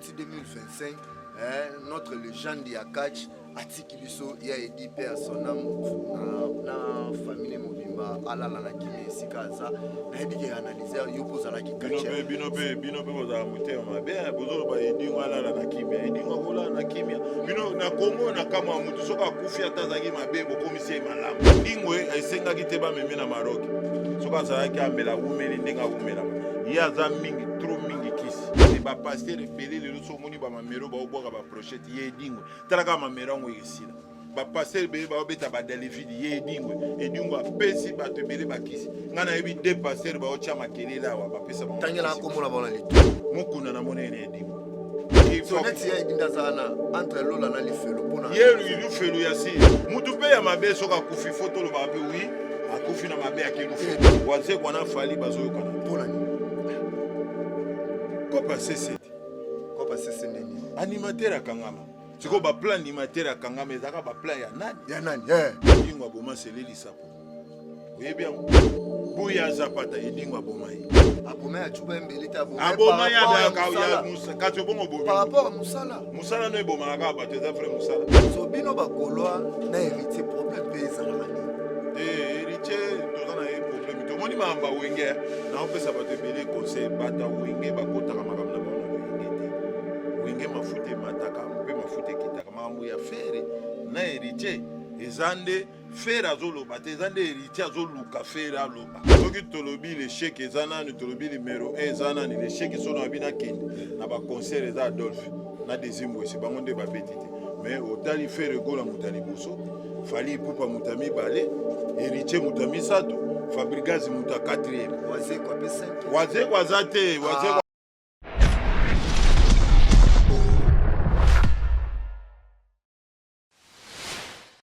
ti 2025 eh, notre legende ya catch atiki biso ya edi mpe ya son ame na famille mobimba alala na kimia esika aza nayebi ke analyser yo mpo ozalaki bino mpe bino mpe bozala motema mabe eh, bozoloba edingo alala na kimia edingo akolala na kimia bino na kongo na kama ya motu soki akufi ata azalaki mabe bokomisi ye malamu edingo eh, esengaki te bamemi na maroki soki azalaki amela wumeli ndenge awumelama ye aza mingi tro mingi ba pasteur efele lelo so omoni bamamero baobwaka baprochete ye edingwe talaka mamero yango ekesila bapasteur ebele baobeta badalivide ye edingwe edingwe apesi bato ebele bakisi ngai nayebi de pasteur baotya makelele awa bapesa tangela akomona bana litu mokuna na monene edingwe soneti ya edinda azala na entre lola na lifelo mpona ye lifelo ya si motu mpe ya mabe soki akufi fo tolobaka mpe wi akufi na mabe ya kilufu wazekwa na fali bazoyokana mpo na nini kopa sese te kopa sese nde nini animateur akangama sikoyo baplan animateur akangama ezalaka baplan ya nani ya nani eh. edingo aboma selelisapo oyebi yango buya zapata edingo aboma ye aboma ya cuba mbeli te aboma ya musala kati obongo bobi par rapport ya musala musala no ebomaka kaka bato eza vrai musala so bino bakolwa na héritier problème mpe ezalaka nini eh, héritier toza na ye problème tomoni mayamba wenge eh. naopesa bato ebele conseil bata wenge bakotaka makambo na bango wenge te wenge mafuta emataka mpe mafuta ekitaka makambo ya fere na héritier eza nde fere azoloba te eza nde héritier azoluka fere aloba soki tolobi lecheke eza nani tolobi numero 1 eza nani lecheke sono abi nakende na baconcert eza adolphe na desimbwese bango nde babeti te mais otali fere egola moto ya liboso fali ipupa moto ya mibale héritier moto ya misato fabrigas moto ya 4 wazeko aza te wazeko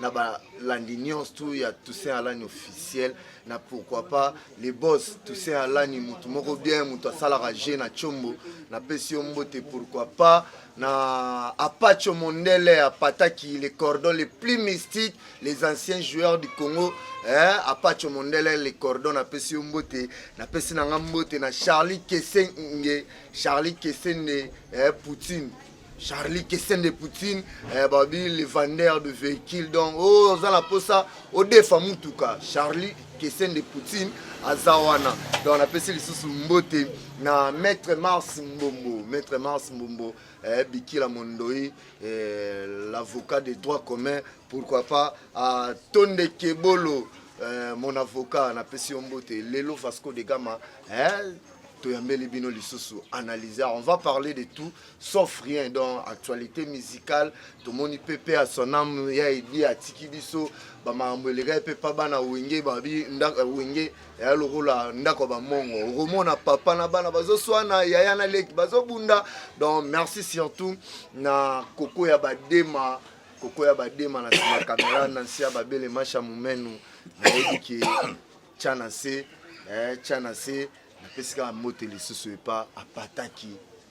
na balandi nyonso tu ya Toussaint Alani officiel na pourquoi pas le boss Toussaint Alani motu moko bien motu asalaka je na chombo napesi yo mbote pourquoi pas na apacho mondele apataki les cordons les plus mystiques les anciens joueurs du congo eh, apacho mondele les cordons napesi yo mbote napesi na nga mbote na charlie kesenge charlie kesende eh, poutine Charlie Kessende Poutine eh, babi le vendeur de véhicule donc oh, oza na mposa odefa mutuka Charlie Kessende Poutine aza wana donc napesi lisusu mbote na maître Mars Mbombo maître Mars Mbombo eh, Bikila Mondoi eh, l'avocat des droits communs pourquoi pas à Tonde Kebolo eh, mon avocat napesi yo mbote lelo Vasco de Gama eh, toyambeli bino lisusu analyser on va parler de tout sauf rien donc actualité musicale tomoni pepe ya son ame ya edi atiki biso bamakambo elekaki mpe pa bana wenge babi euh, wenge yaya lokola ndako ya bamongo okomona papa na bana bazoswana yaya na leki bazobunda donc merci surtout na koko ya badema koko ya badema na nsima kamera na nsi ya babele masha momenu nayebi ke tya na se eh, tya na se napesi kaka mbote lisusu epa apataki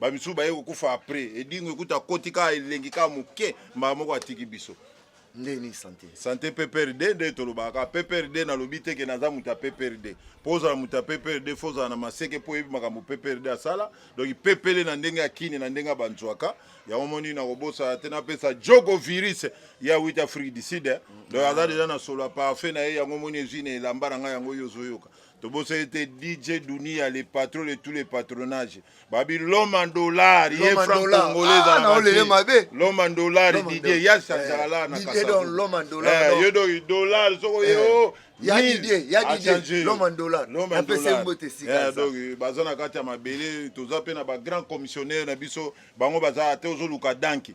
bamisusu baye kokufa après edingo ekuta akoti kaka elengi kaka moke mbala moko atiki biso nde nini sante sante pprd nde tolobaka kaka pprd nalobi te ke naza moto ya pprd mpo ozala moto ya pprd fo ozala na maseke mpo oyebi makambo pprd asala donk pepele na ndenge ya kini na ndenge ya banzwaka yango moni nakobosana te napesa jogo virus ya wit afrique du sud eh. donk aza deja na solo ya parfait na ye yango moni ezwi na elamba na ngai yango yo ozoyoka tobosani te dj dunia le patron de tous les patronages babi l'homme en dollar ye franc congolais ah, ezalaka mabe l'homme en dollar didie ya sasala la na kasa eh, yo donc dollar soko ye eh. o ya didie ya didie l'homme en dollar apesa ye mbote esika eh, donc baza na kati ya mabele toza mpe na ba grand commissionnaire na biso bango baza te ozoluka danki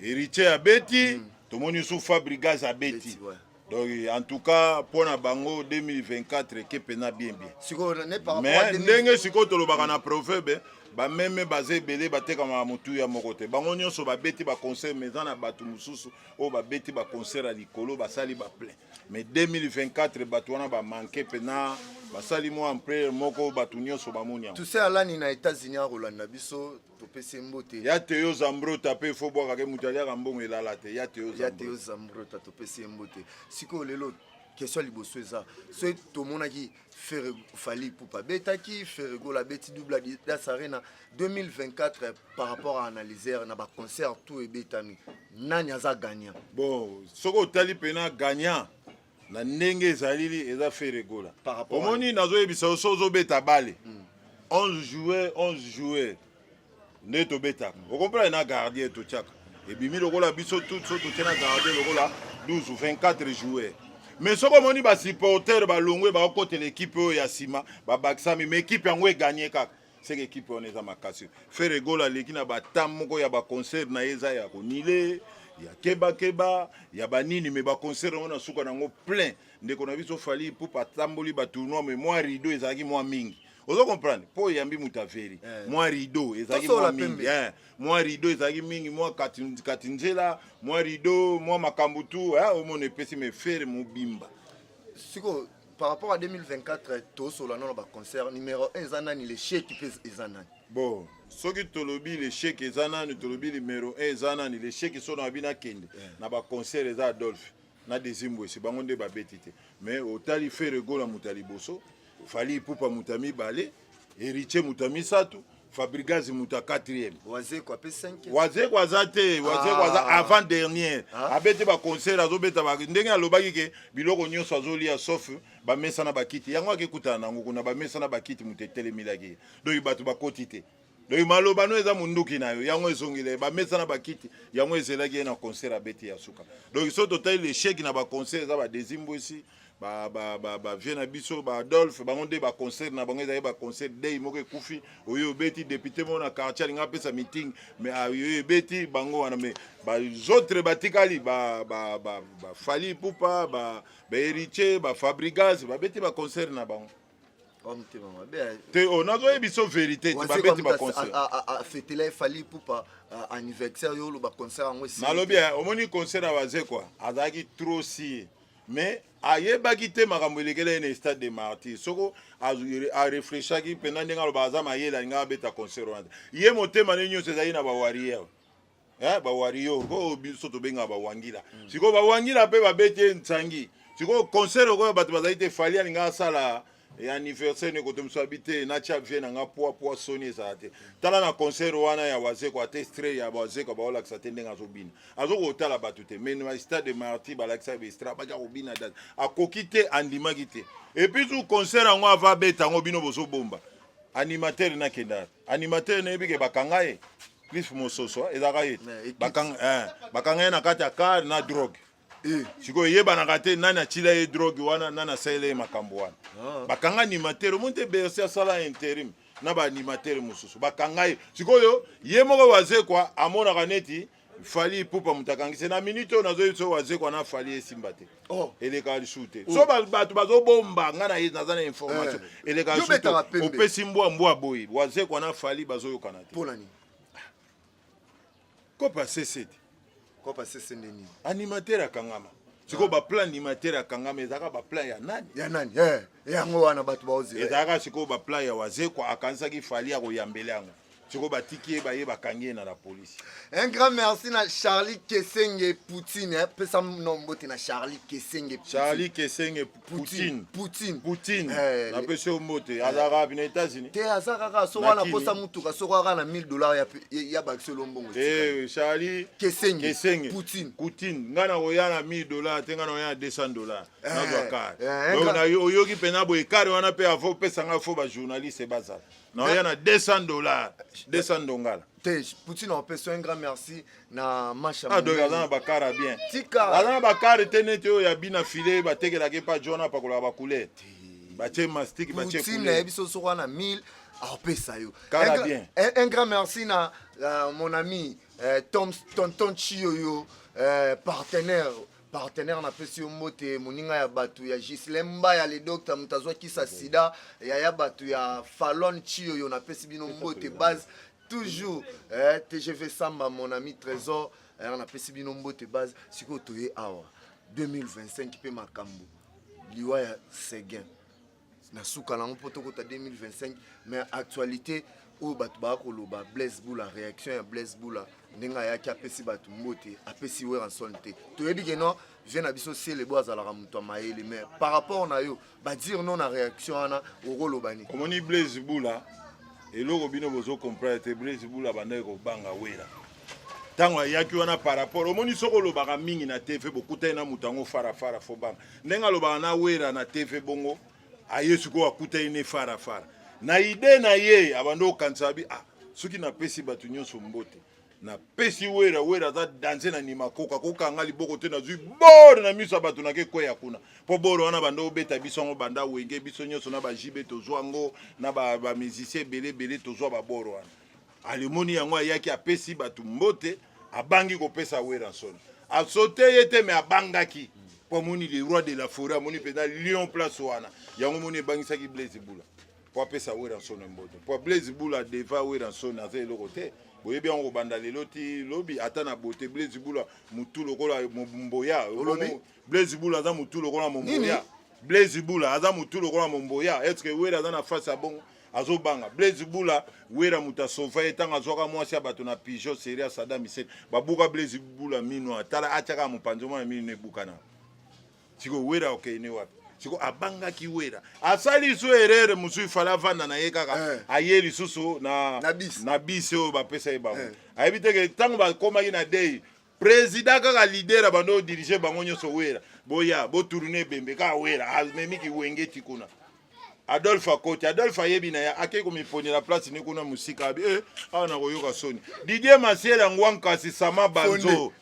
Héritier abeti, mm. tomoni sous Fabrigas abeti. Ouais. Donc en tout cas mpo na bango 2024 ekepe na bien bien. Sikoyo na par Mais ndenge sikoyo tolobaka na proverbe bameme baza ebele batekamaka motuya moko te bango nyonso babeti baconcert mais eza na bato mosusu oyo babeti baconcert ya likolo basali baplein mais 2024 bato wana bamanke mpena basali mwa ampleur moko bato nyonso bamoni yango tuse alani na états-unis akolanda biso topesi mbote ya teo zambrota mpe fo bwakake moto aliaka mbongo elala te ya teo ya teo zambrota topesi ye mbote sikoyo lelo question liboso eza so tomonaki fere fali pupa abetaki feregola abeti double adidas arena 2024 par rapport à analyser na baconcert tout ebetami nani aza gagnant bon soki otali mpena gagnant na ndenge ezalili eza fere gola omoni nazoyebisa yo so ozobeta bale 11 mm. joueur 11 joueur nde tobetaka mm. okomprane na gardien totyaka ebimi lokola biso tout so totye na gardien lokola 12 24 joueur mais soki omoni basupporter balongwe bakokotela ekipe oyo ya nsima babakisami mais ekipe yango eganye kaka seke ekipe wana eza makasi fere gola aleki na batam moko ya baconcert na ye eza ya konile ya kebakeba ya banini me baconcert yango na suka na yango plein ndeko na biso fali pupa atamboli batournoi me mwa rideau ezalaki mwa mingi ozo comprendre mpo oyambi moto averi eh. mwa rideau ezalaki mwa mingi eh. mwa rideau ezalaki mingi mwa kati nzela mwa rideau mwa makambo tu eh, omona epesi mefere mobimba sikoyo par rapport à 2024 tosola nano baconcert numéro 1 eza nani lecheki mpe eza nani bon soki tolobi lecheki eza nani tolobi numéro 1 eza nani lecheki so na abi nakende eh. na baconcert eza adolphe na desimbwesi bango nde babeti te mais otali ferego na moto ya liboso fali ipupa moto ya mibale Heritier muta misatu, Fabrigaz muta quatrième. Wazeko ape 5. Wazeko aza te, Wazeko ah. aza avant dernière. Ah. Abete ba concert azobeta ba ndenge alobaki ke biloko nyonso azolia sauf ba mesa na bakiti. Yango akekutana nango kuna ba mesa na bakiti muta etelemilaki. Donc bato bakoti te. Donc maloba no eza munduki na yo. Yango ezongile ba mesa na bakiti. Yango ezelaki ye na concert abeti ya suka. Donc soki totali l'échec na ba concert eza ba dezimbo esi. ba ba ba ba vieux na biso ba Adolphe bango nde ba concert na bango ezali ba concert day moko ekufi oyo obeti député moko na quartier alinga apesa meeting mais ah, oyo ebeti bango wana mais ba autres batikali ba ba ba, ba Fally Ipupa ba ba Héritier ba Fabrigas babeti ba concert na bango bamutema mabe eh. te o oh, nazoye biso verité te babeti baconcert efali ipupa anniversaire yo oloba concert yango nalobi eh, omoni concert ya wazekwa azalaki trop sie mais ayebaki te makambo elekela ye na stade de martyr soko arefreshaki mpenza ndenge aloba aza mayele alingaka abeta concert wana ye motema ne nyonso ezali na bawariere eh, bawarior oyo biso tobengaka bawangila mm. sikoyo bawangila mpe babeti ye nsangi sikoyo concert okoyo bato bazali te fali alingaka asala e anniversaire nde kotomisa bi te natya vie na nga pwa pwa soni ezala te tala na concert wana ya wazeko ate stre ya wazeko baolakisa te ndenge azobina azoki kotala bato te mais na stade de martyr balakisa bestra baki akobina date akoki te andimaki te epuis tu concert yango ava abeta yango bino bozobomba animateur nakenda animateur nayebi ke bakanga ye cliff mososo ezalaka ye bakanga ye na kati ya car na drogue Eh. sikoyo eyebanaka te nani atila ye drogue wana nani asalela ye makambo wana ah. bakanga animateur omoni te berse asala interim na baanimateur mosusu bakanga ye sikoyo ye moko wazekwa amonaka neti fali pupa moto akangisi na minute oyo nazoyebi so wazekwa na fali esimba te oh. elekaka lisusu te oh. so bato bazobomba ngai naye naza na information eh. elekaka lisusu te opesi mbwa mbwa boye wazekwa na fali bazoyokana te kopa sese te kopa sese nde nini animateur akangama sikoyo baplan animateur akangama ezalaka baplan ya nani ya nani eh, yango wana bato baozela ezalaka sikoyo baplan ya wazekwa akanisaki fali ya koyambela yango sikoyo batiki ye baye bakangi ye na la polisi un grand merci na charlie kesenge poutine eh. pesa nombote na charlie kesenge charlie kesenge Poutine. Poutine. Poutine. Eh, na pese mbote eh. azaka bina États-Unis. Te azaka ka soko na posa mutuka soko aka na 1000 dollars ya ya bakse lombongo. Eh Charlie. Kesenge. Kesenge. Poutine. Poutine. Ngana oya na 1000 dollars te ngana oya na 200 dollars. Eh, na zwa kar. Eh, Donc na oyoki pena boye kar wana pe afo pesa nga fo ba journaliste bazala. Na oya na 200 dollars. 200 dongala. te poutine aopesa un grand merci na masha ah, donc aza na bakara bien tika aza na bakare te neti oyo ya bina file batekelaka epa john apakolaka bacouleur batie mastiki batie poutine nayebi so soko wana 1000 aopesa yo kara bien un grand merci na uh, mon ami uh, tom tonton chioyo uh, partenaire partenaire napesi yo mbote moninga ya bato ya gislin mbaya le docteur moto azwakisa sida yaya bato ya falon chiyoyo napesi bino mbote base toujours eh, tgv samba mon ami trésor eh, napesi bino mbote base sikoyo toye awa 2025 mpe makambo liwa ya seguin na suka nango mpo tokota 2025 mais actualité oyo bato baya koloba blaise bula réaction ya blaise bula ndenge ayaki apesi bato mbote apesi weranson te toyebi ke no vie na biso selebo azalaka moto ya mayele mais par rapport na yo badire no na réaction wana okoloba nini omoni blaise bula eloko bino bozo comprendre te blaise bula bandaki kobanga wera ntango ayaki wana par rapport omoni soki olobaka mingi na tv bokutani na moto yango farafara fobanga ndenge alobaka na wera na tv bongo aye sikoyo akutani ne fara fara na ide na ye abandi kokanisa bi ah, soki napesi bato nyonso mbote napesi wera wera aza danse na nima koka kokanga liboko te nazwi bor na miso ya bato nake kweya kuna mpo bor wana banda obeta biso yango banda wenge biso nyonso na bajibe tozwa yango na bamusicien ebele ebele tozwa babor wana Alimoni yango ayaki apesi bato mbote, abangi kopesa Werrason. Asote ye te me abangaki mpo amoni le roi de la foret, amoni mpenza lion place wana. Yango moni ebangisaki Blaise Bula mpo apesa Werrason mbote, mpo Blaise Bula deva Werrason aza eloko te. Boyebi yango kobanda lelo ti lobi, ata na bote Blaise Bula mutu lokola Momboya. Olobi Blaise Bula aza mutu lokola Momboya. Blaise Bula aza mutu lokola Momboya. Est-ce que Werra aza na face ya bongo? azobanga blaise bula wera moto asova ye ntango azwaka mwasi ya bato na pigeon seria sada misel babuka blaise bula mino atala atyaka mopanzi omona mino ebukana siko wera okende wapi siko abangaki wera asali lisusu erere mosusu ifale avanda na ye kaka eh. aye lisusu na bisi oyo bapesa ye bango eh. ayebi teke ntango bakomaki na dei President kaka leader ya bando dirige bango nyonso wera boya botourne ebembe kaka wera amemi kiwengeti kuna adolphe akoti adolphe ayebi na ye akei komiponela place ni kuna mosika abi e awa nakoyoka soni didie masela ngwa nkasi sama banzo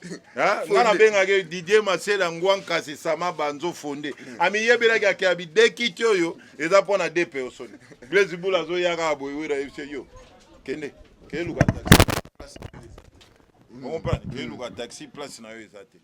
nga nabengaki didie masela ngwa nkasi sama banzo fonde hmm. amiyebelaki ake abi dekiti oyo eza mpo na dpo soni blaise bula azoyaka aboyewera yebise yo kende keluka okomprendre mm. eluka taxi place na yo eza te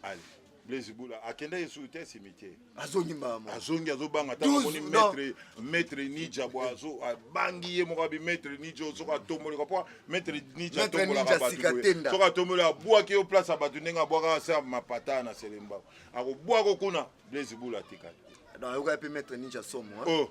ale blaise bula akenda ye suki te asimi te azongi mbama azongi azobanga ntango amoni maître maître nija bwa azo abangi ye moko abi maître nija soki atomboleka mpo maître nija atombolaka bato soki atomboli abwaki yo place ya bato ndenge abwakaka se mapata na selemba akobwako kuna blaise bula atikali ayokaki mpe maître ninja somo oh.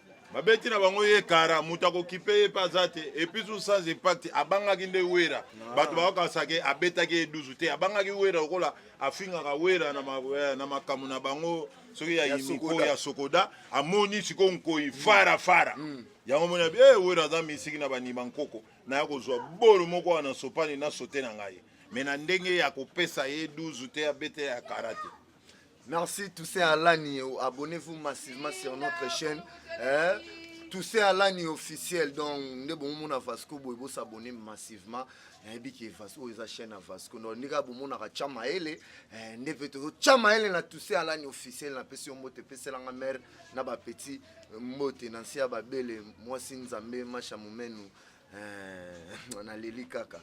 babeti na bango ye kara moto akokipe ye mpe aza te epuis ou sans impact abangaki nde wera ah. bato bakokasake abetaki ye duzu te abangaki wera lokola afingaka wera na eh, makambo na bango soki ya imiko ya sokoda amoni sikoyo nkoi mm. fara fara mm. yango moni abi e wera aza misiki na bandima nkoko naya kozwa bolo moko wana na sopani na sote na ngai me na ndenge ya kopesa ye duzu te abete ya kara te Merci Toussaint Alani, abonnez-vous massivement sur notre chaîne. Hein? Toussaint Alani officiel, donc nde bomona Vasco boye bo s'abonner massivement. nayebi ke Vasco eza chaîne ya Vasco donc ndenge abomonaka tya mayele eh, nde mpe tozo tya mayele na Toussaint Alani officiel napesi yo mbote epeselanga mare na bapetit mbote na nse ya babele mwasi nzambe masha momenu eh, naleli kaka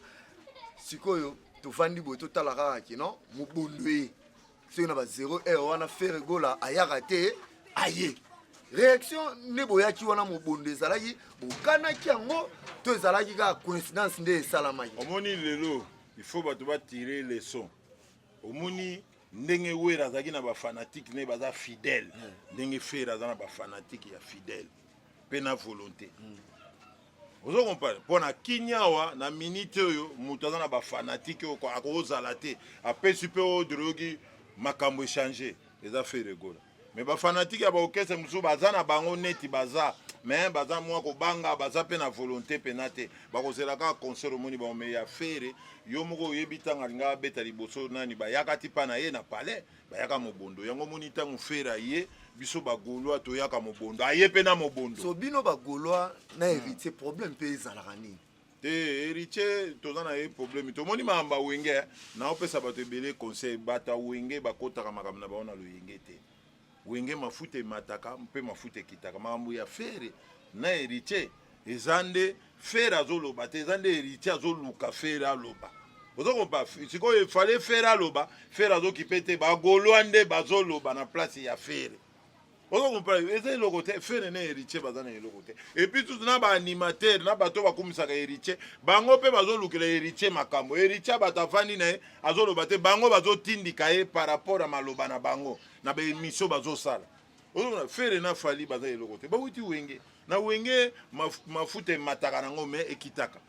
sikoyo tovandi boye totala kaka kino mobondo ye soki na ba 0 heure wana fere gola ayaka te aye réaction nde boyaki wana mobondo ezalaki bokanaki yango to ezalaki kaka coïncidence nde esalamaki omoni lelo il faut bato batire leçon omoni ndenge wera azalaki na bafanatike ne baza fidèle ndenge fere aza na bafanatike ya fidèle mpe na volonté ozo comprendre mpo na kimia awa na minite oyo moto aza na bafanatike oyo akozala te apesi mpe odre oyoki makambo echange eza feregola me bafanatike ya baokese mosusu baza na bango neti baza me baza mwa kobanga baza mpe na volonté mpena te bakozela kaka concert omoni bango me ya fere yo moko oyebi ntango alingaka abeta liboso nani bayakati mpa na ye na palais bayaka mobondo yango omoni ntango fere aye biso bagaulois toyaka mobondo aye mpe na mobondo so bino bagaulois na hmm. héritier problème mpe ezalaka nini te héritier toza na ye problème tomoni makambo ya wenge eh. naopesa bato ebele conseil bato ya wenge bakotaka makambo na bango na loyenge te wenge mafuta emataka mpe mafuta ekitaka makambo ya fere na héritier eza nde Ferre azoloba te, eza nde Heritier azoluka Ferre aloba. Ozo kompa sikoyo efale Ferre aloba, Ferre azokipe te, bagolois nde bazoloba na place ya Ferre. Ozo kompa eza eloko te, Ferre na Heritier baza na eloko te. Et puis tout na ba animateur na bato bakumisaka Heritier, bango pe bazolukela Heritier makambo. Heritier bato avandi na ye azoloba te, bango bazotindika ye par rapport ya maloba na bango na ba emission bazosala. ozomona fere na fali baza eloko te bawuti wenge na wenge maf, mafuta emataka nango me ekitaka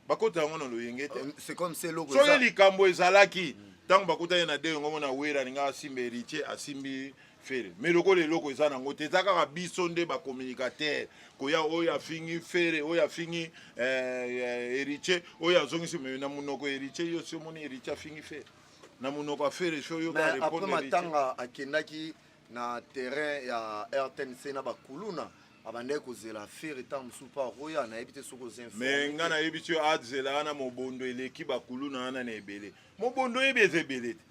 bakota yango na loyenge te euh, soki likambo ezalaki ntango bakutaki na denge omona wera alinga asimba heritier asimbi fere me lokola eloko eza nango te eza kaka biso nde bacommunicateur koya oyo afingi fere oyo afingi heritier eh, eh, oyo azongisi me na monoko heritier yo si omoni heritier afingi fere na monoko ya fere soyomatanga akendaki na terrain ya rtnc na bakuluna abandaki kozela fere ntango mosusu mpo akoya nayebi te soki oza me ngai nayebi ti azela wana mobondo eleki bakuluna wana na ebele mobondo oyebi eza ebele te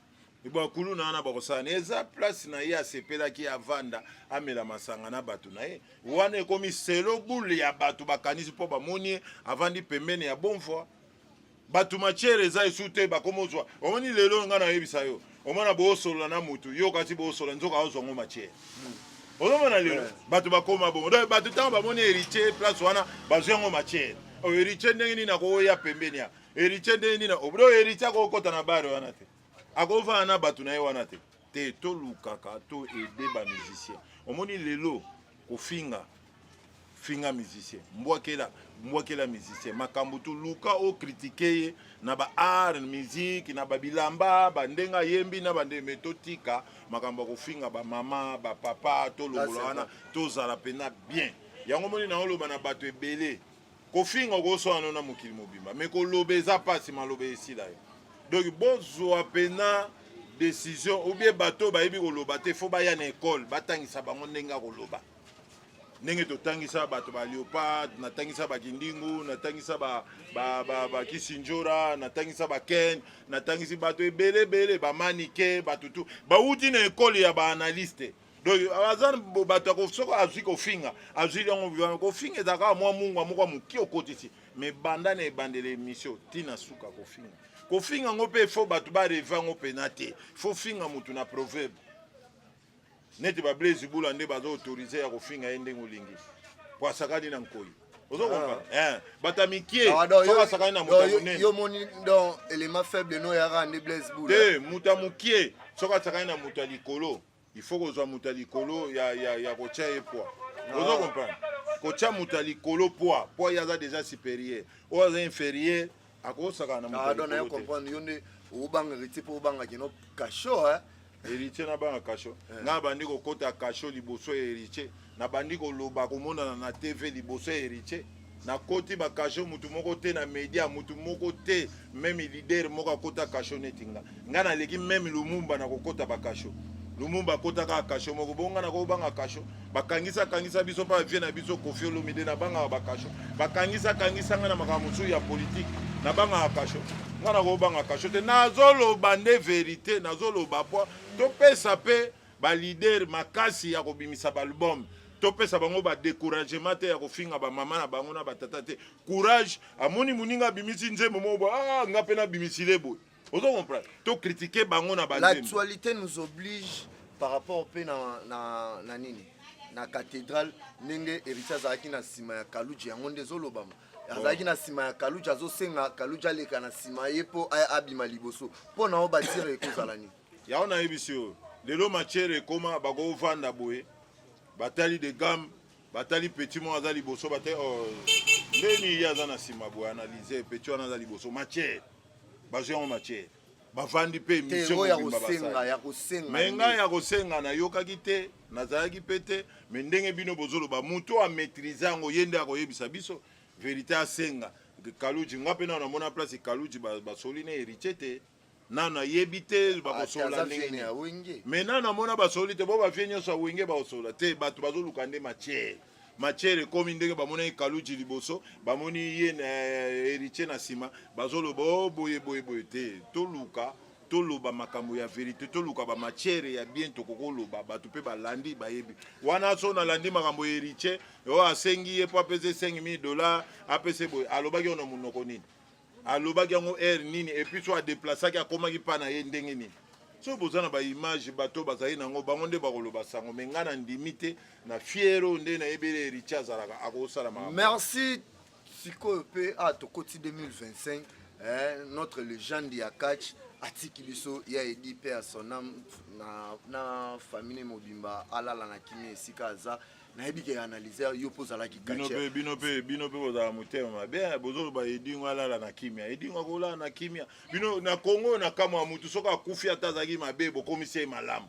bakulu na wana bakosana eza place na ye asepelaki avanda amela masanga na bato na ye wana ekomi selo bule ya bato bakanisi mpo bamoni ye avandi pembeni ya bonvoi bato matière eza esu te bakoma ozwa omoni lelo oyo ngai nayebisa yo omona boosolola na motu yo okati boosolola nzoka aozwa ngo matière hmm. ozomona lelo bato bakoma bongo donc bato ntango bamoni héritier place wana bazwi yango matière oyo oh, héritier ndenge nini akoya pembeni ya héritier ndenge nini oyo héritier akokota na bare wana te akovanda na bato na ye wana te te tolukaka to aide ba musicien omoni lelo kofinga finga musicien mbwakela mbwakela musicien makambo tu luka okritike ye na ba art musique na babilamba bandenge ayembi na bande me totika makambo ya kofinga bamama bapapa tolongola wana tozala mpena bien yango moni naoloba na bato ebele kofinga okoswana no na mokili mobimba me koloba eza mpasi maloba esila yo donc bozwa mpena décision ou bien bato oyo bayebi koloba te fo baya na ekole batangisa bango ndenge ya koloba ndenge totangisa bato ba leopard natangisa bakindingu natangisa bakisinjora ba, ba, ba natangisa baken natangisi bato ebele ebele bamanike bato tu bauti na ekole ya baanalyste ba donc aza bato ya soki azwi kofinga azwi yango vivama kofinga ezalaka kaka mwa mungwa moko ya moke okotisi me banda na ebandela emission ntina suka kofinga kofinga yango mpe fo bato bareve yango mpena te fo finga motu na proverbe neti bablaise bula nde baza autorise ya kofinga ye ndenge olingi po asakani na nkoi ozokomprendre ah. eh, bato ya mikie soki asakani na moto ya monene yo moni donc élément faible no yaka nde blaise bula te moto ya mokie soki asakani na moto ya likolo il faut kozwa moto ya likolo ya, ya, ya kotya ye pwa ozo comprendre kotya moto ya likolo pwa pwa ye aza déjà supérieur oyo aza inférieur akosaka na moto ya likolo comprendre yo nde obanga héritier mpo obanga kino kasho eh? héritier nabanga kasho eh. nga bandi kokota kasho liboso ya héritier Na bandi ko loba ko monana na TV liboso ya Heritier. Na koti ba cachot mutu moko te na media mutu moko te meme leader moko akota cachot neti nga. Nga na leki meme Lumumba na kokota ba cachot. Lumumba akota kaka cachot moko. Bonga na ko banga cachot. Ba kangisa kangisa biso pa vie na biso Koffi Olomide na banga ba cachot. Ba kangisa kangisa nga na makambo mosusu ya politique na banga cachot. Nga na ko banga cachot te. Nazoloba nde verite, nazoloba po topesa pe Ba leader makasi ya kobimisa ba album topesa bango ba decouragement te ya kofinga ba mama na bango na ba tata te courage amoni muninga abimisi nzembo moko ah nga pe nabimisi le boye ozo comprendre to critiquer bango na ba l'actualité nous oblige par rapport pe na na, na nini na cathédrale ndenge héritier azalaki na nsima ya kaluji yango nde ezolobama azalaki na nsima ya kaluji azosenga kaluji aleka na nsima ye mpo abima liboso mpo na yo batire ekozala nini Yango nayebisi yo lelo matière ekoma bakovanda boye batali de gamme batali petit moko aza liboso batali oh, ndeni ye aza na nsima boye analyse petit wana aza liboso matière bazwi yango matière bavandi mpe emission ya kosenga ya kosenga mais ngai ya kosenga nayokaki te nazalaki mpe te mais ndenge bino bozoloba moto amaîtrise yango ye nde akoyebisa biso verité asenga kaluji nga mpe nao namona place kaluji basoli na héritier te nanu ayebi te bakosolola ndenge nini me nanu amona basololi te bo bavie nyonso ya wenge bakosolola te bato bazoluka nde matière matière ekomi ndenge bamonaki kaluji liboso bamoni ye na eh, héritier na nsima bazoloba o oh, boye boye boye te toluka toloba makambo ya verite toluka bamatière ya bien tokoki oloba bato mpe balandi bayebi wana so nalandi makambo ya héritier oyo oh, asengi ye mpo apesa esengi mii dollar apesa boye alobaki oyo na monoko nini alobaki yango heure nini et puis so adeplaceaki akomaki mpa na ye ndenge nini soki boza na baimage bato bazali nango bango nde bakoloba sango me ngai na ndimi te na fiere oyo nde nayebeli heritier azalaka akosala ma merci sikoyo mpe a ah, tokoti 2025 eh, notre legende ya catch atiki biso ya edi mpe ya sonam na, na famille mobimba alala na kimia esika aza nayebi ke analyser yo mpo ozalaki bino mpe bino mpe bino mpe bozala motema mabe eh, bozoloba edingo alala na kimia edingo akolala na kimia bino na kongo oyo na kamwa ya motu soki akufi ata azalaki mabe bokomisi ye malamu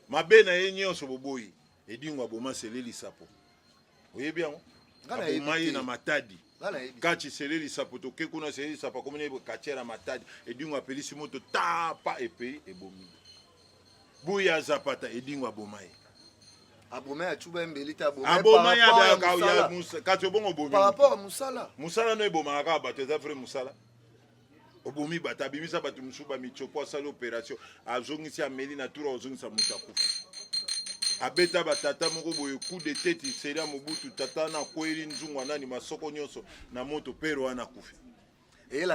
mabe na ye nyonso boboyi edingo aboma sele lisapo oyebi yango aboma ye na matadi kati sele lisapo toke kuna sele lisapo akomi na ye katiere ya matadi edingo apelisi moto tapa epei ebomi Buya azapata edingo aboma ye. Aboma ya chuba embeli te aboma. Aboma ya ba ya musa kasi obongo bomi. Par rapport à musala. Musala no ebomaka kaka bato eza vrai musala. Obomi bato abimisa bato mosusu bamichopo asali opération azongisi ameli na tour azongisa moto akufa abeta batata moko boye coup de tete seria mobutu tata na kweli nzungu anani masoko nyonso na moto pere wana akufi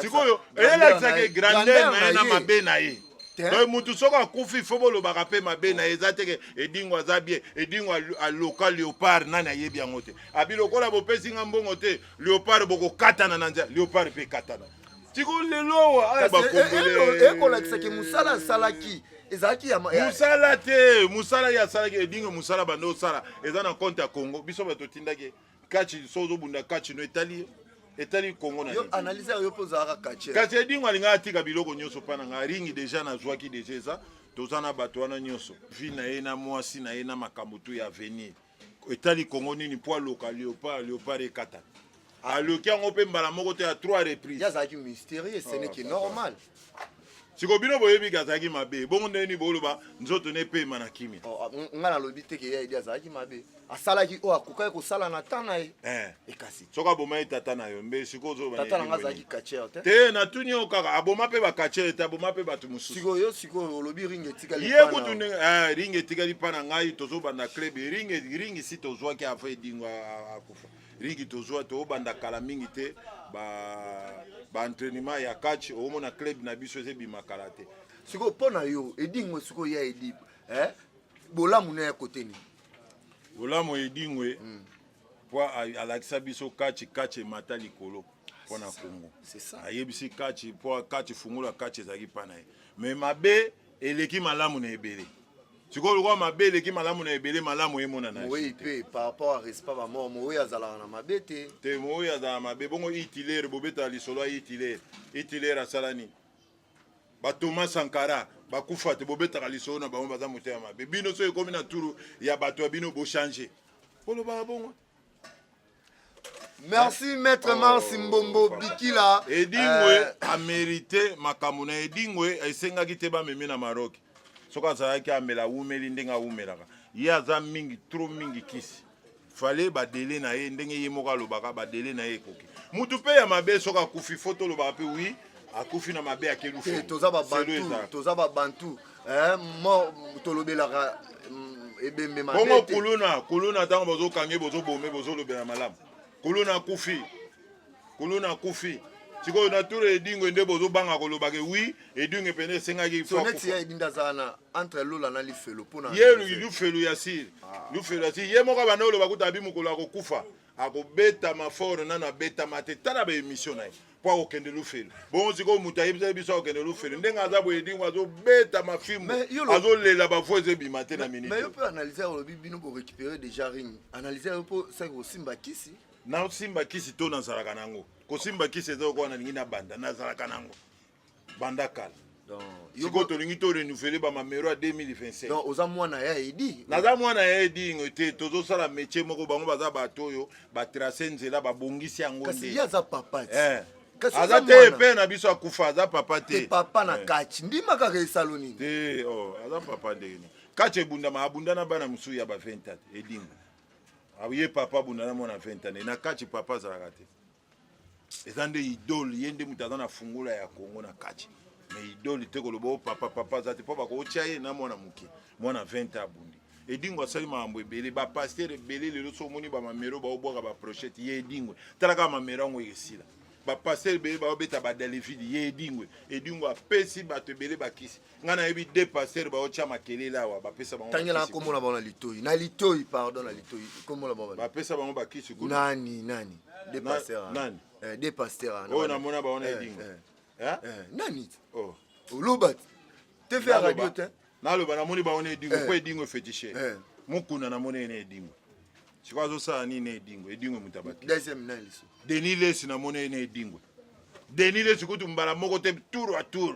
sikoyo eyelakisaka grandeur na ye na mabe na ye donc mutu soki akufi fo bolobaka mpe mabe na ye eza teke edingo aza bie edingo aloka leopard nani ayebi yango te abi lokola bopesi nga mbongo te leopard bokokatana na nzela leopard mpe ekatana tiko lelo ekolakisaki eh, eh, eh, mosala asalaki ezalaki ya mosala te mosala ye asalaki edingo mosala banda osala eza na compte ya congo biso bato otindaki Catch so zo bunda catch no etali etali Congo na yo. Analyse yo po za ka catch. Catch edingo alinga atika biloko nyoso pa na nga ringi deja na zwaki deja eza toza na bato wana nyoso. Vie na ye na mwasi na ye na makambo tu ya avenir. Etali Congo nini po aloka Leopard, Leopard ekata. aloki yango mpe mbala moko te ya trois reprise azalaki mysterieux ce n'est que normal siko bino boyebi ke azalaki mabe bongo ndenge nini boloba nzoto ne epema na kimia oh, ah, nga nalobi te ke ya edi azalaki mabe asalaki oyo akokaki kosala na ta na ye eh. ekasi soki abomaki tata na yo mbe siko ozotata na nga azalaki kachere te te natuni yo kaka aboma mpe bakachere te aboma mpe bato mosusu sikoyo yo sikoyo olobi ringi etikali ye kutu ndenge eh, ringi etikali mpa na ngai tozobanda club ringi ringi si tozwaki ava edingo akufa ligi tozwa tobanda kala mingi te baentrainement ba ya catch omona club na biso ezebima kala te sikoyo mpo na yo edingwe sikoyo ya edi eh? bolamu na ya kote nini bolamu edingwe mm. po alakisa biso catch catch emata likolo mpo na kongo ayebisi catch mpo catch fungola catch ezalaki mpa na ye mais mabe eleki malamu na ebele sikoyo lokola mabe eleki malamu na ebele malamu emonana moweyi mpe par rapport à respect ba mort moweyi azalaka na mabe te te moweyi azalaka mabe bongo hitilere bobetaka lisolo ya hitilere hitilere asala nini batoma sankara bakufa te bobetaka lisolo na bango baza motema mabe bino soki ekomi na turu ya bato ya bino bochange bolobaka bongo Merci maître oh. Mars Mbombo Bikila. Edingwe euh, a mérité makambo na Edingwe esengaki te bamemi na Maroc. Soki azalaki amela awumeli ndenge awumelaka. Ye aza mingi trop mingi kisi. Fale badele na ye ndenge ye moko alobaka badele na ye ekoki. Mutu mpe ya mabe soki akufi fo tolobaka mpe oui akufi na mabe ya kelufu. Toza babantu, toza babantu. eh, tolobelaka mm, ebembe bongo kuluna kuluna ntango bozokange bozobome bozolobela malamu kuluna akufi kuluna akufi sikoyo na tour edingwe nde bozobanga kolobaka wi edingwe mpena esengaki ye lufelu ya siri ah. lufelu ya siri ye moko abanda oloba kuta abi mokolo akokufa akobetama fort nano abetama te tala baemission na ye mpo akokende lufelu bongo sikoyo moto ayebisaki biso akokende lufelu ndenge aza boye dingo azobeta mafimbo azolela bafo eza ebima te na minite yo mpe analyse ya olobi bino borécupere déjà ring analyse yo mpo saki kosimba kisi nasimba kisi to nazalaka nango kosimba kisi eza okoa nalingi nabanda nazalaka nango banda kala sikoyo tolingi to renouvele bamamero ya 2025 oza mwana ya edi naza mwana ya edingo te tozosala métier moko bango baza bato oyo batrace nzela babongisi yango kasi ye aza papa ti eh. aza te mpe na biso akufa aza papa te papa na eh. kati ndima kaka esalo nini te oh, aza papa ndenge nini kati ebundama abunda na bana mosusu ya ba 20 edingo ye papa abunda na mwana 20 ane na kati papa azalaka te eza nde idole ye nde moto aza na fungola ya kongo na kati me idole te koloba o oh, papa papa aza te mpo bakotya ye na mwana moke mwana 20 abundi edingo asali makambo ebele bapaster ebele lelo so omoni bamamero baobwaka baprochete ye edingwe tala kaka mamero yango esila bapaster ebele baobeta badelevide ye edingwe edingo apesi bato ebele bakisi nga nayebi de pasteur baotya makelele awa bapesa bango tangela nkombo na bango na litoi na litoi pardon na litoi nkombo na bango bapesa bango bakisi kuna nani nani de pasteur nani eh, de pasteur oyo namona bango na eh, edinga eh. eh? nani oh. oloba te fe radio te naloba namoni bango na edingo mpo edingo efetishe mokuna namoni ye na edingo sikoyo azosala nini na edingo edingo moto abaki denis lesi namoni ye na edingo denis lesi kutu mbala moko te tour a tour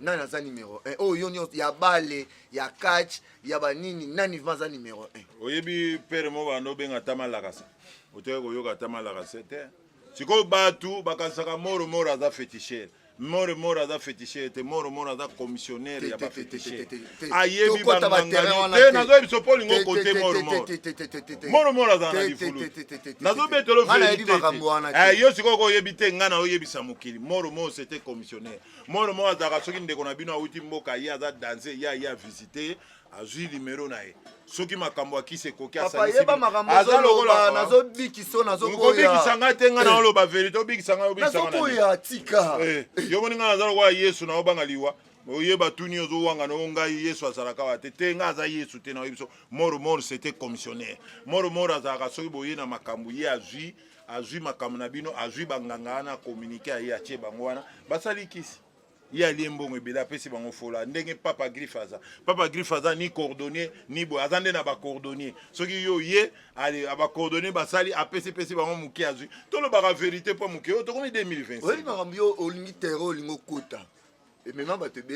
nani aza numero 1 oyo yo nyonso ya bale ya catch ya banini nani vma aza numero 1 oyebi pere mo banda obenga ata malakasa otoki koyoka ata malakasa te sikoyo bato bakanisaka moro moro aza fetishere moro moro aza fetishere te moro moro aza commissionnaire ya bafetishere ayebi bangangani te nazoyebi biso mpo olingo kote moro moro moro moro aza na lifulu nazobetelo verite te yo sikoyo oyebi te ngai naoyebisa mokili moro moro sete commissionnaire moro moko azalaka soki ndeko na bino awuti mboka ye aza danse ye aye avisite ye azwi limero na ye soki makambo ya kisi ekoki asalisiaza lokola nazobikisa ngai te ngai naoloba verité obikisa ngai obikisa tika eh, yo moni ngai naza lokola yesu naobanga liwa oye batuni ozowanga na ngai yesu azalaka wa te te ngai aza yesu te nayebi biso moro moro sete commissionnaire moro moro azalaka soki boye na makambo ye azwi azwi makambo na bino azwi banganga wana communiqué aye atie bango wana basali kisi ye alie mbongo ebele apesi bango fola ndenge papa griffe aza papa griffe aza ni coordonnier ni boye aza nde na bacoordonnier soki yo ye bacoordonnier basali apesi pesi bango moke azwi tolobaka verité mpo moke oyo tokomi 2026 oyebi makambo yo olingi terre olingi okota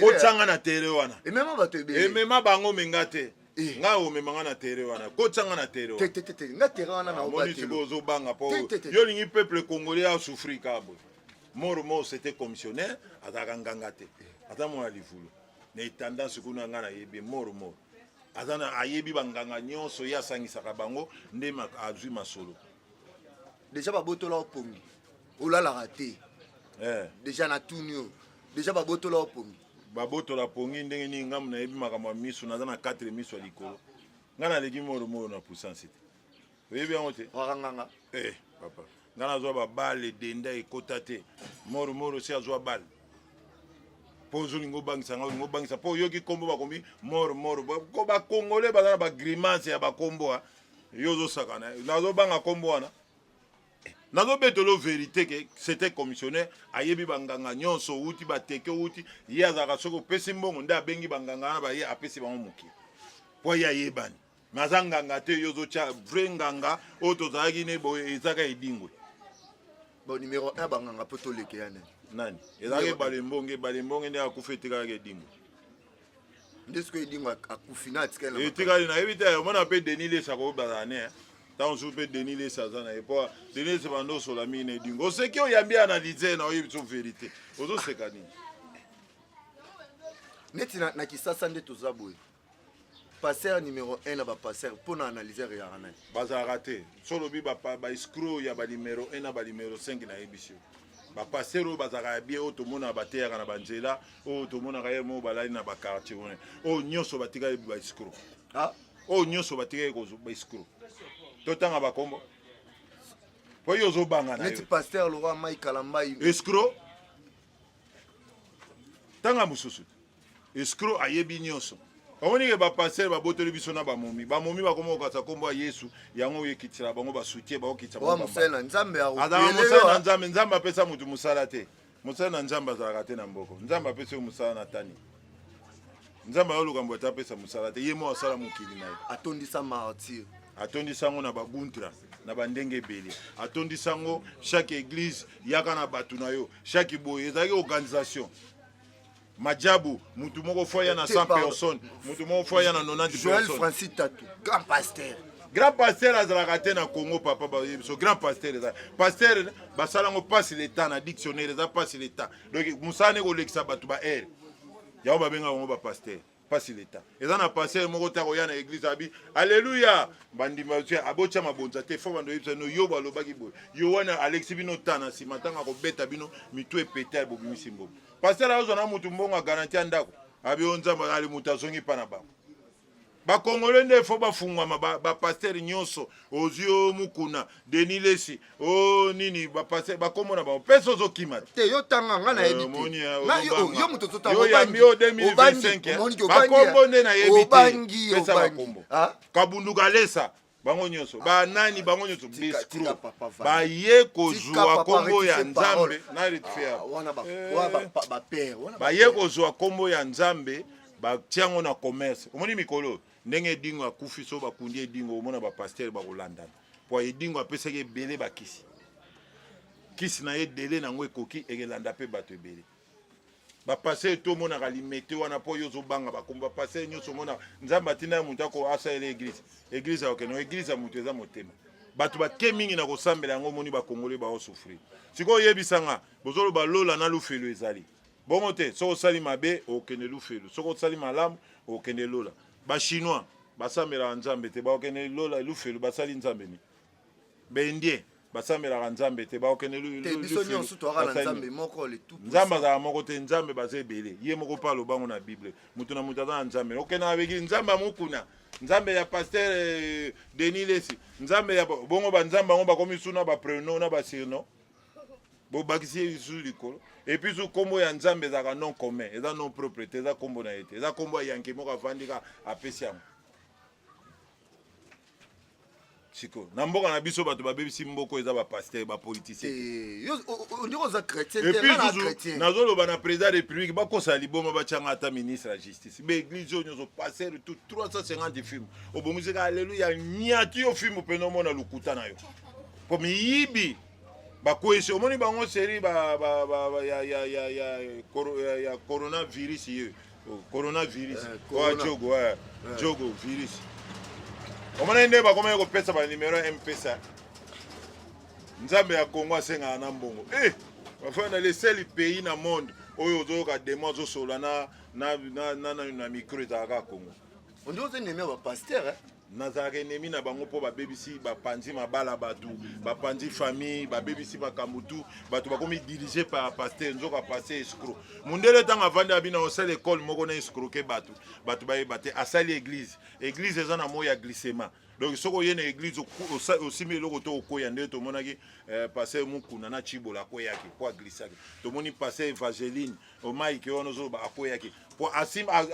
kotyanga na tere wana emema bango omenga te eh. ngai omema ngai na tere wana kotyanga na tere wanaomoni sikoyo ozobanga mpo yo olingi peuple congolais asouffrir kaka boye moro moro sete commissionnaire azalaka nganga te aza mwana livulu na etendance kuna ngai nayebi moro moro aza ayebi banganga nyonso ye asangisaka bango nde azwi masolo deja babotola yo pongi olalaka te eh. deja natuni yo deja babotola yo pongi babotola pongi ndenge nini ngambo nayebi makambo ya miso naza na 4 miso ya likolo ngai naleki moromoro na puissance te oyebi yango te wakanganga eh, papa ngai nazwa babale edenda ekota te moromoro si azwa bale mpo ozolinga obangisa ngai olinga obangisa mpo oyoki nkombo bakomi moromoro ko bakongole baza na bagrimase ya bakombo yo ozosakana nazobanga nkombo wana nazobetelo verité ke c'était commissionnaire ayebi banganga nyonso outi bateke outi ye azalaka soki opesi mbongo nde abengi banganga wana baye apesi bango moke mpo ye ayebani me aza nganga te yo ozotya vrai nganga oyo tozalaki ne boye ezaka edingwe bon numero 1 banganga mpo toleke ya nani nani ezalaki ebale mbonge ebale mbonge nde akufa etekalaka edingwe nde sikoyo edingo akufi na atikali na etikali nayebi te omona mpe denis lesa koki bazala ne ntango mosusu mpe denis lesa aza na ye mpo denis lesa banda osola mingi na edingo oseki oyambi analyse na oyebi biso verité ozoseka nini neti na, na kisasa nde toza boye passer numéro 1 na bapasser mpo na analyse eyaka na ye bazalaka te so olobi baescro ya banimero 1 na banimero 5 nayebisi yo bapastere oyo bazalaka ya bie oyo tomonaka bateyaka na banzela oyo tomonaka ye moo balali na bakartier wana oyo nyonso batikali baescro ah? oyo nyonso batikali baescro totanga bakombo po yo ozobanga na neti pasteur lora mai kalambai escro tanga mosusu Escroc ayebi nyoso. Omoni ke ba pasteur ba botoli biso na ba momi. Ba momi ba komo kasa kombo ya Yesu. Yango ye kitira bango ba soutien ba kitsa bango. Wa musela Nzambe ya robe. Adama musela na Nzambe, Nzambe apesa mutu musala te. Musala na Nzambe azalaka te na mboko. Nzambe apesa yo musala na tani. Nzambe ayo lukambo ata apesa musala te. Ye mo asala mokili na ye. Atondisa martyr. Atondisa ngo na ba guntra. na bandenge ebele atondisa yango chaque église yaka na bato na yo chaque boye ezalaki organisation majabu mutu moko fo aya na 100 personnes mutu moko fo aya na 90 joel francis tatu grand pasteur grand pasteur azalaka te na congo papa baye biso grand pasteur eza pasteur basala yango passe leta na dictionnaire eza passe leta donc mosala ne kolekisa bato ba aire yango babengaka yango bapasteur pasi leta eza na pasteur moko te akoya na eglise abi aleluya bandimi batia abotya mabonza te fo bando oyebisa bino yobo alobaki boye yowane alekisi bino ta na nsima ntango akobeta bino mitu epeta bobimisi mbongo pasteur azwa na motu mbongo agaranti ya ndako abi o nzambe ali moto azongi mpa na bango bakongole nde fo bafungwama bapastere ba nyonso ozwi o mokuna denis lesi o oh, nini bapase bakombo na bango mpe sozo kima te yo tanga nga nayebi teyo moto ozotangaobangi bakombo nde nayebi te pesa bakombo ah? kabundu kalesa bango nyonso ah, banani bango nyonso biscro baye kozwa kombo ya nzambe baye kozwa kombo ya nzambe batia yango na commerce omoni mikolo ndenge edingo akufi so bakundi edingo omona bapaster bakolandana po edingo apesaki ebele bakisi kisi na ye dele na yango ekoki ekelanda mpe bato ebele bapasele to omonaka limete wana mpo yo ozobanga bakombo bapasele nyonso omona nzambe atina ya moto ako asalela eglize eglize akokende eglize ya moto eza motema bato bake mingi na kosambela yango omoni bakongole baosufrir sikoyo oyebisanga bozoloba lola na lufelo ezali Bongo te, soki osali mabe okende lufelu, soki osali malamu okende lola. Ba chinois basambelaka nzambe te, bakokende lola lufelu, basali nzambe nini? Ba indien basambelaka nzambe te, bakokende nzambe azala moko te, nzambe baza ebele, ye moko mpe aloba yango na bible, moto na moto aza na nzambe. Okende na begi nzambe ya mokuna, nzambe ya pasteur eh, Denis Lesi, nzambe ya bongo, banzambe yango bakomi suna ba prenom na ba surnom bobakisi ye lisusu likolo epuis su nkombo ya nzambe ezalaka non commun eza non propre te eza nkombo na ye te eza nkombo ya yanke moko avandi ka apesi yango sikoyo na mboka na biso bato babebisi mboko eza bapaster bapoliticienepui nazoloba na président ya république bakosala liboma batyanga ata ministre ya justice baeglise oyo nyonso paster tout 350 film obongiseka aleluya nyati yo film mpena omona lokuta na yo po miyibi bakwesi omoni bango seri ba, ba, ba, ba, ya, ya, ya, ya, koro, ya, ya coronavirus ye oh, coronavirus eh, corona. oya jogo eh, eh. jogo virus omonai nde bakomaki kopesa banimero ya mpesa nzambe ya kongo asengaka na mbongo eh, bafai na leseli pays na monde oyo ozoyoka demo azosolola na, na, na, na, na, na micro ezalaka kongo ondi oza neme ya bapaster eh? nazalaka enemi na bango mpo babebisi bapanzi mabala bato bapanzi famille babebisi makambo tu bato bakomi dirige par paster nzoka paster escro mondele ntango avandi abina osala ekole moko na escroke bato bato bayeba te asali eglise eglise eza na moi ya glissema donc soki oye na eglise osimbi eloko to okweya nde tomonaki eh, paster mokuna na cibola akweyaki mpo aglissaki tomoni paster evangeline omaike wana ozoloba akweyaki po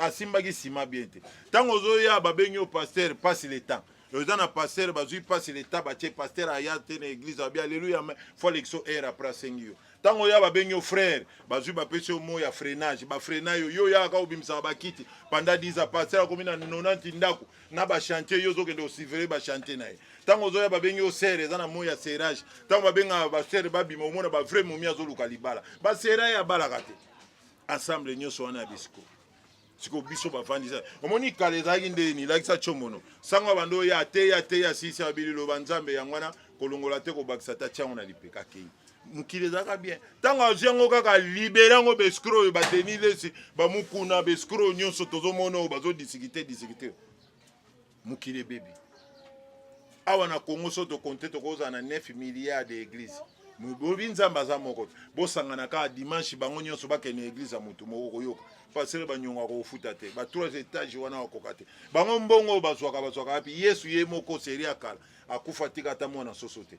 asimbaki nsima bien te ntango ozoya babengi yo paster pasi le temps oza na paster bazwi pasi le temps batie paster aya te na eglise abi aleluya me fo alekiso aire apres asengi yo ntango oya babengi yo frere bazwi bapesi yo mo ya freinage bafreina yo yo oyaka obimisaka bakiti panda 10 a paster akomi na 90 ndako na ba chantier yo ozokende osivele ba chantier na ye ntango ozoya babengi yo sere eza na moi ya serage ntango babengaka basere babima omona ba vrai momi azoluka libala basera ye abalaka te ensemble nyonso wana ya bisiko sikoyo biso bavandisa omoni kala ezalaki nde nilakisa comono sango ya bando oyo ateya ateya sisi abili loba nzambe yango wana kolongola te kobakisa ta tiango na lipeka kei mokili ezalaka bien ntango azwi yango kaka libere yango bescro oyo badeni lesi bamokuna bescro oyo nyonso tozomona oyo bazodisikite disikite mokili ebebi awa na congo so tokonte tokozala na 9 milliard de église bobi nzambe aza moko bosangana kaka dimanche bango nyonso bakende na église ya motu moko koyoka pasere banyongo akofuta te ba trois étage wana bakoka te bango mbongo oyo bazwaka bazwaka wapi yesu ye moko serie ya kala akufa tika ata mwana soso te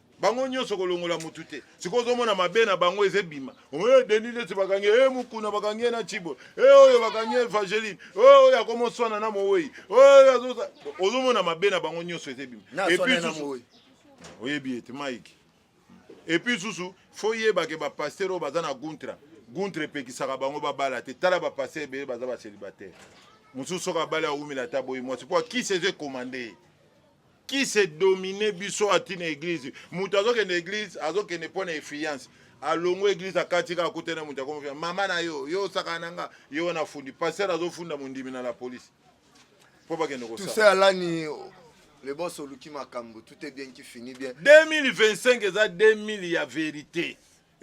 bango nyonso kolongola motu te sikoyo ozomona mabe na bango eza ebima oye deni leti bakangi e mokuna bakangi ye na cibo e oyo bakangi ye evangeline oyo oyo akoma oswana na mowei oyo ozomona mabe na bango nyonso eza ebima oyebi ete mike epuis susu fo yebake bapaster oyo baza na guntra guntra epekisaka bango babala te tala bapaster ebele baza bacelibataire mosusu soki abali awumela ata boyi mwasi mpo akisi eza ekomande ye qui se domine biso ati na eglise moto azokende eglise azokende mpo na efiance alongwe eglise akati kaka akuta na moto akomofia mama na yo yo osakana na nga yo wana afundi paster azofunda mondimi na la police mpo bakende kosala alani le boss oluki makambo tout est bien qui finit bien 2025 eza 2000 ya verite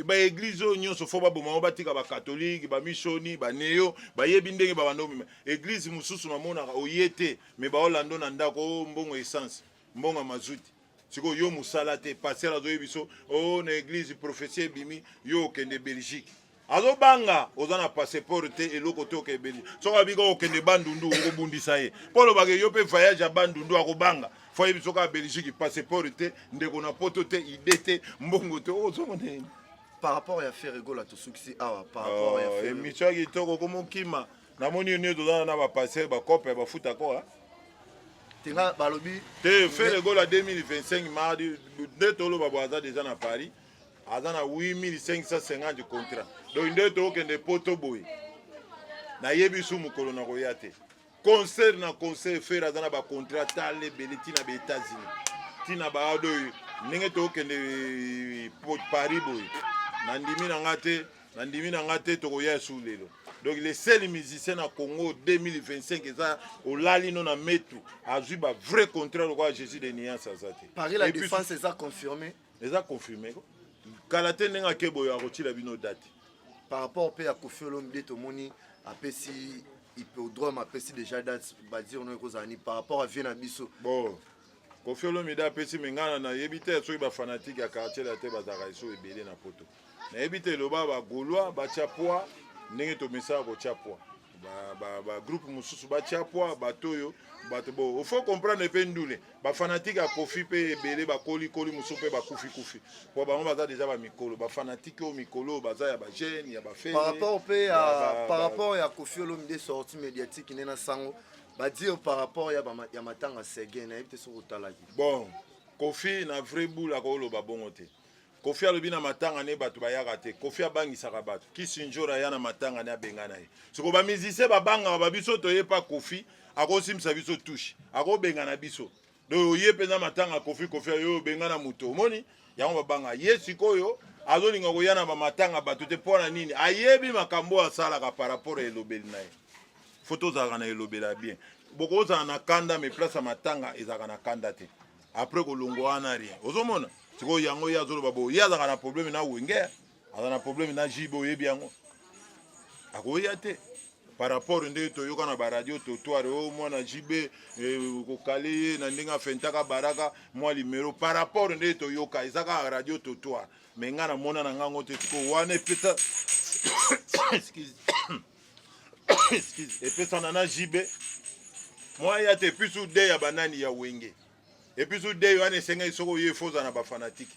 ba eglise oyo nyonso fo baboma yango batika bakatolike bamisoni baneo bayebi ndenge babanda komema eglise mosusu namonaka oye te me baolando na ndako o oh, mbongo essence mbongo ya mazuti sikoyo yo mosala te paster azoyebi biso o oh, na eglise prophetie ebimi yo okende belgique azobanga oza na passeport te eloko te okende belgique soki abika okende bandundu okobundisa ye mpo olobaka yo mpe voyage ya bandundu akobanga fo ayebi soki ya belgique passeport te ndeko na poto te ide te mbongo te ozongo oh, nini par rapport ya ferre gola tosukisi awa par rapport ya oh, ferre emission kitoko komokima namoni yo nio tozana na bapasseur bacope bafuta koa tenga balobi te ferre gola 2025 mardi nde toloba bo aza deja na paris aza na 8550 contrat donc nde tokende poto boye nayebi su mokolo nakoya te concert na concert fere aza na bacontrat tala ebele ntina ba états-unis ntina baado oyo ndenge tokokende eh, paris boye nandimi na nga te nandimi na nga te tokoya esu lelo donc le seul musicien na congo 2025 eza olali no na metu azwi ba vrai contrat lokola jésus de niance aza te paris la défense eza confirmé eza confirme ko kala te ndenge ake boyo akotyela bino date par rapport mpe ya kofi olomide tomoni apesi hippodrome apesi déjà date badire no ekozala ni par rapport à vie na biso bon kofi olomide apesi mengana nayebi te soki bafanatike ya quartier la te bazalaka eso ebele na poto nayebi te eloba ba gaulois batya poids ndenge tomesaka kotya poids bagroupe mosusu batya poids bato oyo bato bo faut comprendre mpe ndule bafanatike ya kofi mpe ebele bakolikoli mosusu mpe bakufikufi mpo bango baza deja bamikolo bafanatike oyo mikolo oyo baza ya bajeune ya bafeparapport mpe ya par rapport ya kofi olomide sorti médiatique nde na sango badire par rapport ya matanga sege nayebi te soki otalaki bon kofi na vrai boule akoloba bongo te Kofi alobi na matanga ne bato bayaka te. Kofi abangisaka bato. Kisinjora aya na matanga ne abengana ye. Soko ba musiciens babangaka ba biso toye pa Kofi akosimisa biso touche. Akobengana biso. Donc oye mpenza matanga Kofi Kofi ayo obengana moto. Omoni? Yango babanga ye sikoyo azolinga koya na bamatanga bato te mpo na nini ayebi makambo oyo asalaka par rapport ya elobeli na ye fo tozalaka na elobela bien bokozala na kanda me place ya matanga ezalaka na kanda te après kolongwa wana rien ozomona sikoyo yango ye azoloba bo ye azalaka na probleme na wenge aza na probleme na jibe oyebi yango akoya te par rapport ndenge toyoka na baradio totoire o oh, mwana jibe eh, kokale ye na ndenge afentaka baraka mwa limero par rapport ndenge toyoka eza kaka radio totoire me ngai namona na ngango te sikoyo wana epesa epesana na JB mwa ya te episu de ya banani ya wenge episu de yo wana esengeli soki oye fo oza na bafanatike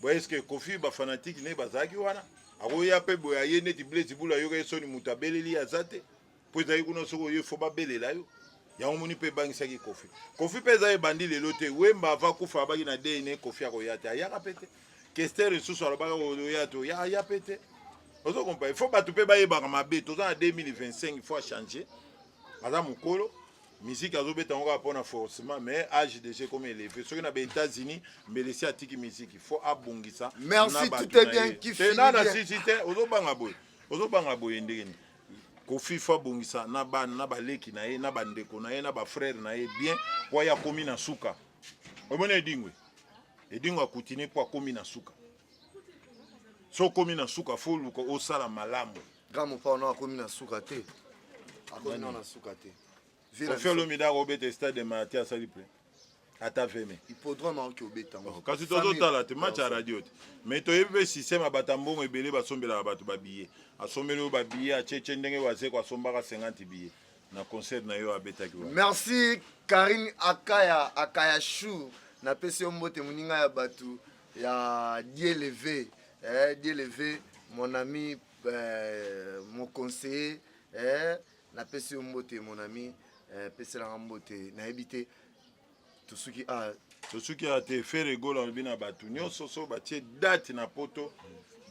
boye eske kofi bafanatike ne bazalaki wana akoya mpe boye aye neti blaise bula ayoka ye soni moto abeleli ye aza te mpo ezalaki kuna soki oye fo babelela yo yango moni mpe ebangisaki kofi kofi mpe eza ebandi lelo te wemba ava kufa abaki na dna kofi akoya te ayaka mpe te Kester lisusu alobaka oya to ya ya pe te ozo comprendre il faut bato mpe bayebaka mabe toza na 2025 il faut achanger aza mokolo miziki azobeta yango kaka mpo na forcement mais age déjà ekomi eleve soki na ba états-unis mbelesi atiki miziki faut abongisa merci tout est bien qui finit bien na sisi te ozobanga boye ozobanga boye ndenge nini kofi faut abongisa na bana na baleki na ye na bandeko na ye na bafrère na ye bien mpo ye akomi na suka omoni edingwe edingo akutine mpo akomi na suka so okomi na suka fo oluka osala malamu grand mopao no akomi na suka te akomi no na suka te kofi olomide akobeta stade de mati asali plein ata veme hippodrome aoki obeta yango oh, kasi tozotala te match ya radio te mais toyebi mpe systeme abata mbongo ebele basombelaka bato babiye asombeli oyo babiye acece ndenge wazeko asombaka 50 biye na concert na yo abetaki wa merci karine akaya akaya chou napesi yo mbote moninga ya bato ya dieleve eh, dieleve mon ami eh, mon conseiller eh, napesi yo mbote mon ami eh, peselanga mbote nayebi te tosuki a ah. tosuki a ah, te fere gol alobi na bato nyonso so batie date na poto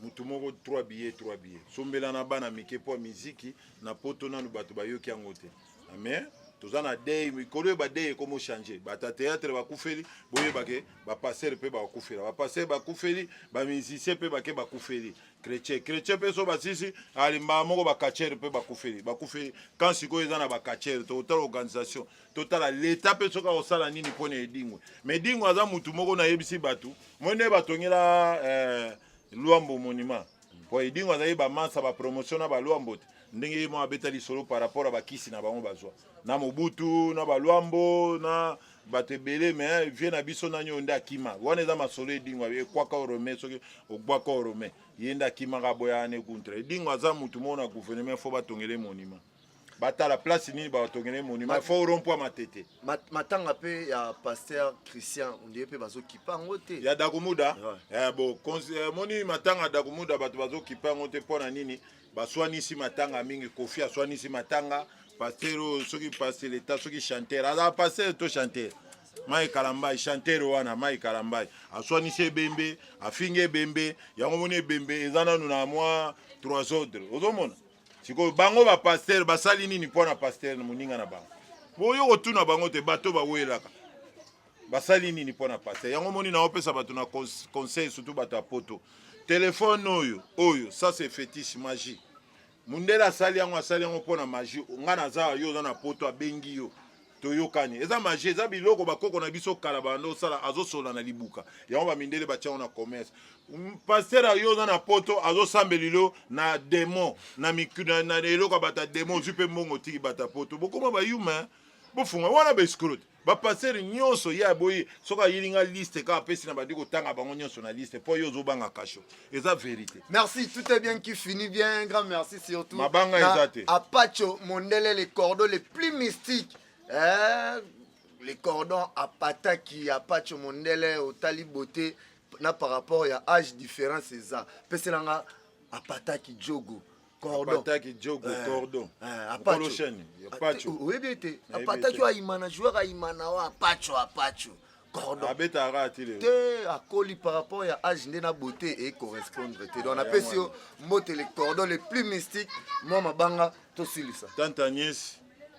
motu moko 3 billet 3 billet sombela na bana mike mpo miziki na poto nanu bato bayoki yango te ah, mais toza na dei mikolo oyo badei ekomo change bato ya théâtre bakufeli boyebake bapastere mpe bakufela bapastere bakufeli bamusicien mpe bake bakufeli chrétien chrétien mpe so basisi alimbaa moko bacatchere mpe bakufeli bakufeli kan sikoyo eza na bacatchere tokotala organisation totala leta mpe soki akosala nini mpo na edingwe ma edingwe aza motu moko nayebisi bato moi nde batongela eh, lwambo monima mpo edingwe azali bamansa bapromotion na balwambo te ndenge ye moko abeta lisolo par rapport ya bakisi na bango bazwa na mobutu na balwambo na bato ebele me vie na biso nani oyo nde akima wana eza masolo edingo ekwaka orome soki ogbwaka orome ye nde akimaka boya ane kuntra edingo aza motu moko na gouvernement fo batongele monima batala place nini batongele monument fo rond point matete matanga pe ya pasteur christian ondie pe bazokipa yango te ya dakumuda eh, bo eh, moni matanga dakumuda bato bazokipa yango te mpo na nini baswanisi matanga mingi kofi aswanisi matanga pasteur oyo soki pasteur leta soki chanteur aza pasteur to chanteur mai kalambai chanteur wana mai kalambai aswanisi ebembe afingi ebembe yango moni ebembe eza nanu na mwa trois ordre ozomona sikoyo bango ba pasteur basali nini mpo na pasteur na moninga na bango boyo kotuna bango te bato bawelaka basali nini mpo na pasteur yango moni naopesa bato na conseil surtout bato ya poto telefone oyo oyo ça c'est fétiche magie mundele asali yango asali yango mpo na magie ngai naza yo oza na poto abengi yo toyokani eza magie eza biloko bakoko na biso kala banda osala azosola na libuka yango bamindele batiango na commerce paster yo oza na poto azosambeli lo na demon na, na, na eloko bata demon ozwi mpe mbongo otiki bata poto bokoma bayuma bofunga wana baescrote bapastere nyonso ye aboyi soki ayeli nga liste kaka apesi na bandi kotanga bango nyonso na liste mpo ye ozobanga kasho eza verité merci tout est bien qui finit bien grand merci surtout mabanga eza te apacho mondele les cordons les plus mystiques eh, les cordons apataki apacho mondele otali beauté na par rapport ya âge différence eza pesela nga apataki jogo cordonpataki jogo eh, cordon eh, apolo shani apacho eh, oyebi ete apataki oyo ayimana joueur ayimana oyo apacho apacho cordon abeta ara ti lelo te akoli par rapport ya age nde na beauté e correspondre te donc napesi yo mbote le cordon le plus mystique mwa mabanga tosilisa tante agnès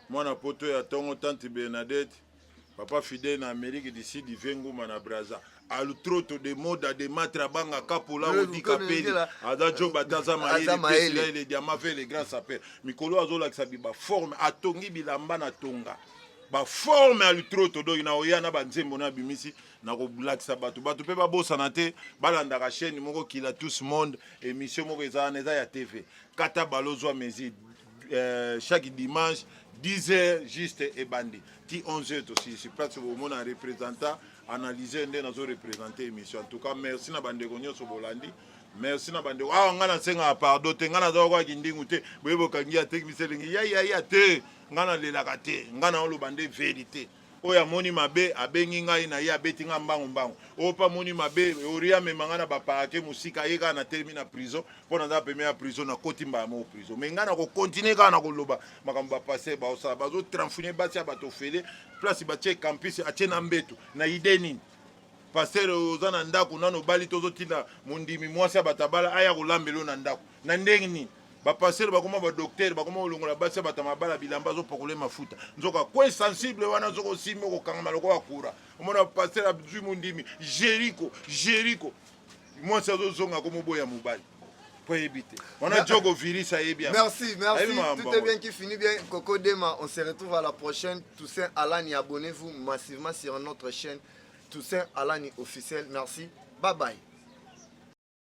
mwana poto ya ntongo tante bernadette papa fidèle na amérique du sud vie nguma na braza alutroto de moda de matre abanga kapola odika peli aza job ata aza mayele diama ve le grand saper mikolo azolakisa bi baforme atongi bilamba na tonga baforme alutroto doki na oya na banzembo na abimisi na kolakisa bato bato mpe babosana te balandaka chaîne moko kila tous monde émission moko eza wana eza ya tv kata balozwa mesure Euh, chaque dimanche 10 heures juste ebandi ti 11 heures tosilisi place bomona représentant analyser nde nazo représente émission en tout cas merci na bandeko nyonso bolandi merci na bandeko awa ah, ngai nasengaka pardon te ngai nazalaka kindingu te boye bokangi ya tekmisi elingi yayaya te ngai nalelaka te ngai naoloba nde verité oyo amoni mabe abengi ngai na ye abeti ngai mbangu mbangu oyo mpe amoni mabe ori amema ngai na baparake mosika ye kaka natelemi na prison mpo naza peme ya prison nakoti mbala moko prison mai ngai nakokontinue kaka na koloba makambo bapaster baosala bazotranfune basi ya bato ofele place batie campus atie na mbetu na ide nini paster oza na ndako nano obali tozotinda mondimi mwasi ya batabala aya kolambelo na ndako na ndenge nini bapastere bakoma badoktere bakoma kolongola basi ya bato ya mabala bilamba azopakole mafuta nzoka kwe sensible wana soki osimbi okokangama lokola kura omona pastere azwi mondimi jeriko jeriko mwasi azozonga komoboya mobali mpo ayebi te wana jogo virus ayebi yango merci merci tout est bien qui finit bien coco dema on se retrouve à la prochaine toussaint alani abonnez-vous massivement sur notre chaîne toussaint alani officiel merci bye bye